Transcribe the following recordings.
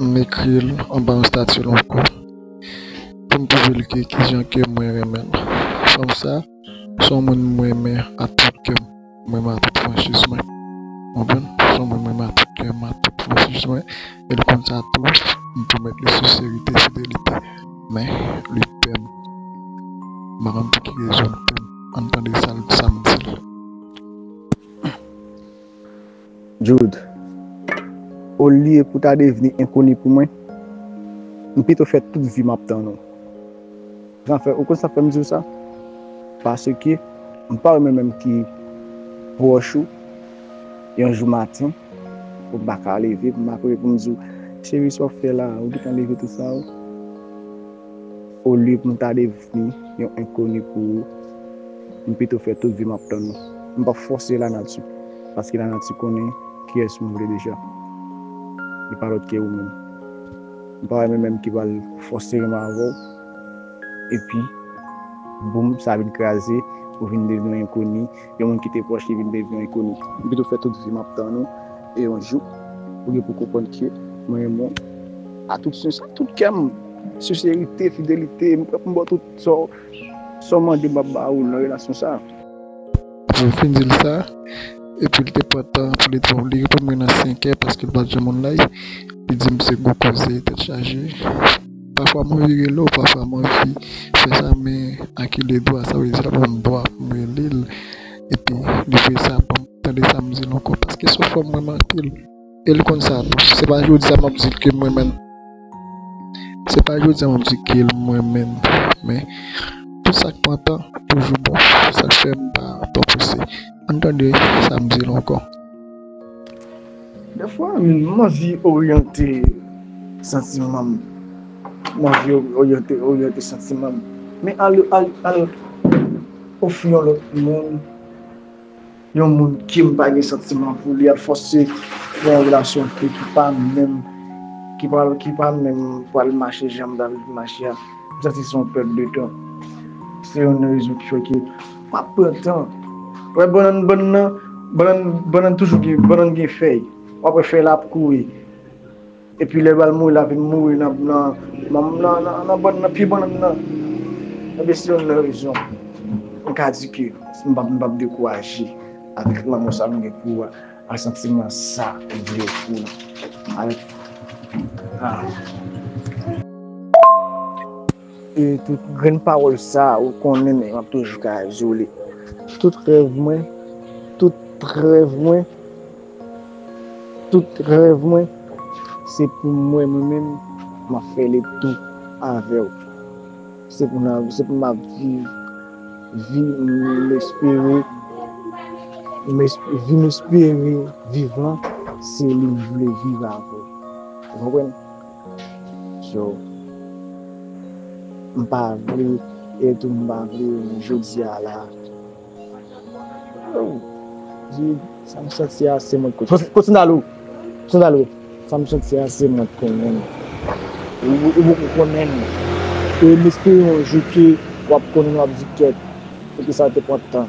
M ekri l anba yon stati lonko pou m pwouve l ke kijan ke mwen renmen l. Fanm sa, s on moun m renmen ak tout kè m, m renmen ak tout franchiz mwen. Ou konprann? S on moun m renmen ak tout kè m, ak tout franchiz mwen. E l konn sa tou, m pwomèt li senserite, fidelite. Men, li pè m. M pa konn pou ki rezon l pè m. Ann tande sa m di l. Jude, Olye pou ta devni enkoni pou mwen, m pito fè tout vi m ap tann ou. Zafè, ou konn sa k fè m di w sa? Paske m pa wè mwen menm ki pwòch ou, yon jou maten, pou m pa ka leve pou m pa kouri pou m di w, Cheri, sa w fè la a? Ou gen tan leve tou sa w? Olye pou m ta devni yon enkoni pou ou, m pito fè tout vi m ap tann ou. M pap fòse lanati, paske lanati konnen kiyès m vle deja. Li pa lòt ke ou menm. M pa wè men menm ki pral fòse renmen avè w, epi boum sa vin kraze, ou vin devni yon enkoni Yon moun ki te pwòch li vin devni yon ikoni. M pito fè tout vi m ap tann ou e yon jou ou gen pou konprann ke mwen renmen w a tout sens, a tout kè m, senserite, fidelite, m prè pou m ba w tout sa w sa w mande m ap ba ou nan relasyon sa a. Apre l fin di l sa, epi l te pran tan pou li di m, li reponn mwen nan senkè paske l pa t janm online, li di m se gwo koze tèt chaje. Pafwa m anvi rele w, pafwa m anvi fè sa men a ki le dwa, sa vle di sa ban m dwa pou m rele l epi li vle sa pou m tande sa m di l ankò paske se yon fanm m renmen anpil e l konn sa tou. Se pa jodi a m ap di l ke m renmen l, se pa jodi a m ap di l ke m renmen l men tout sa k pran tan toujou bon sa k fè m pa prese. An n tande sa m di l ankò. Dèfwa m anvi oryante santiman m. M anvi oryante santiman m. Men al ofri yon lòt moun, yon moun ke m pa gen santiman pou li, al fòse pou yon relasyon ke ki pa menm, ki pa menm pral mache jan m ta vle li mache a. M santi se yon pèt de tan. Se youn nan rezon ki fè ke. Map pran tan. Wè bannann bannann nan bannann bannann toujou gen bannann gen fèy wap wè fèy la ap kouri epi lè bal mouri la vin mouri nan nan nan bannann nan pye bannann nan ebyen se yonn nan rezon m ka di ke m pap m pap dekouraje avèk lanmò sa m gen pou ou a ak santiman sa m gen pou ou a. E tout grenn pawòl sa ou konnen men map toujou ka izole. Tout rèv mwen, tout rèv mwen, tout rèv mwen se pou mwen mwen menm map fè le tou avèw. Se pou nan, se pou map viv vi m espere, vi m espere viv lan se li m vle viv avèw. Ou konprann? yo m pa vle e tou m pa vle yo jodi a la oh di sa m santi a se mwen k konnen kontinye alo kontinye alo sa m santi a se mwen k konnen ou poko konnen l e m espere yon jou ke w ap konnen w ap di kèt e ke sa te pran tan.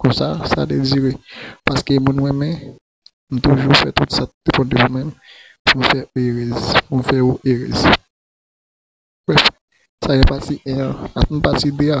Konsa sa dezire. Paske moun renmen, m toujou fè tout sa ki bon devan men m pou m fè ou erez, pou m fè ou erez. Brèf, sa gen pati 1 an, n ap tann pati 2 a.